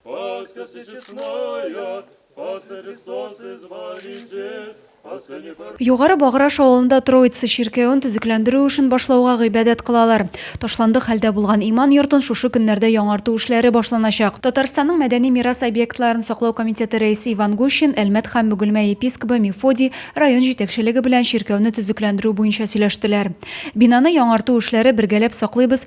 Пасха всечестная, Пасха Христос Избавитель, Пасха не пор... Югары Баграш авылында Троица чиркәвен төзекләндерү эшен башлауга гыйбадәт кылалар. Ташландык хәлдә булган иман йортын шушы көннәрдә яңарту эшләре башланачак. Татарстанның мәдәни мирас объектларын саклау комитеты рәисе Иван Гущин Әлмәт һәм Бөгелмә епискобы Мефодий район җитәкчелеге белән чиркәүне төзекләндерү буенча сөйләштеләр. Бинаны яңарту эшләре бергәләп саклыйбыз,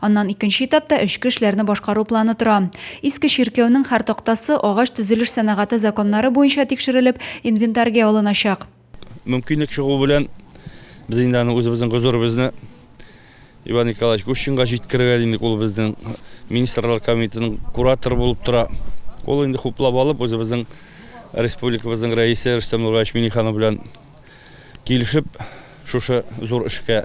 Аннан икенче этапта эчке эшләрне башкару планы тора. Иске чиркәүнең һәр тактасы агач төзелеш сәнәгате законнары буенча тикшерелеп, инвентарьгә алыначак. Мөмкинлек чыгу белән, без инде аны үзебезнең гозеребезне Иван Николаевич Гущинга җиткерергә дидек. Ул безнең министрлар комитетының кураторы булып тора. Ул инде хуплап алып, үзебезнең республикабызның рәисе Рөстәм Нураевич Миниханов белән килешеп шушы зур эшкә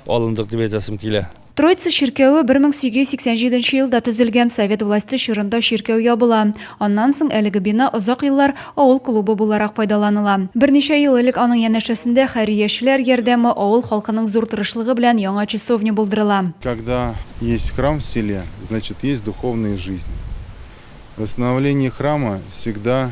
алындык дип әйтәсем килә. Троица чиркәве 1887 елда төзелгән, совет власте чорында чиркәү ябыла. Аннан соң әлеге бина озак еллар авыл клубы буларак файдаланыла. Берничә ел элек аның янәшәсендә хәйриячеләр ярдәме, авыл халкының зур тырышлыгы белән яңа часовня булдырыла. Когда есть храм в селе, значит есть духовная жизнь. Восстановление храма всегда.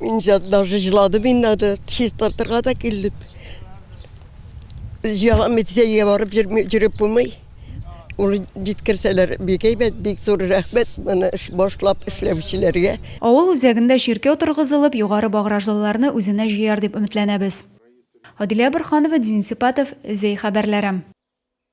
Мин даже жыладым инде аны чистартырга да килдем. Җыялам митсәйгә барып жүреп булмый. Ул җиткерсәләр бик әйбәт, бик зур рәхмәт моны башлап эшләүчеләргә. Авыл үзәгендә чиркәү торгызылып, югары багражлыларны үзенә җыяр дип өметләнәбез. Адилә Борһанова, Дин Сипатов, Зәй хәбәрләре.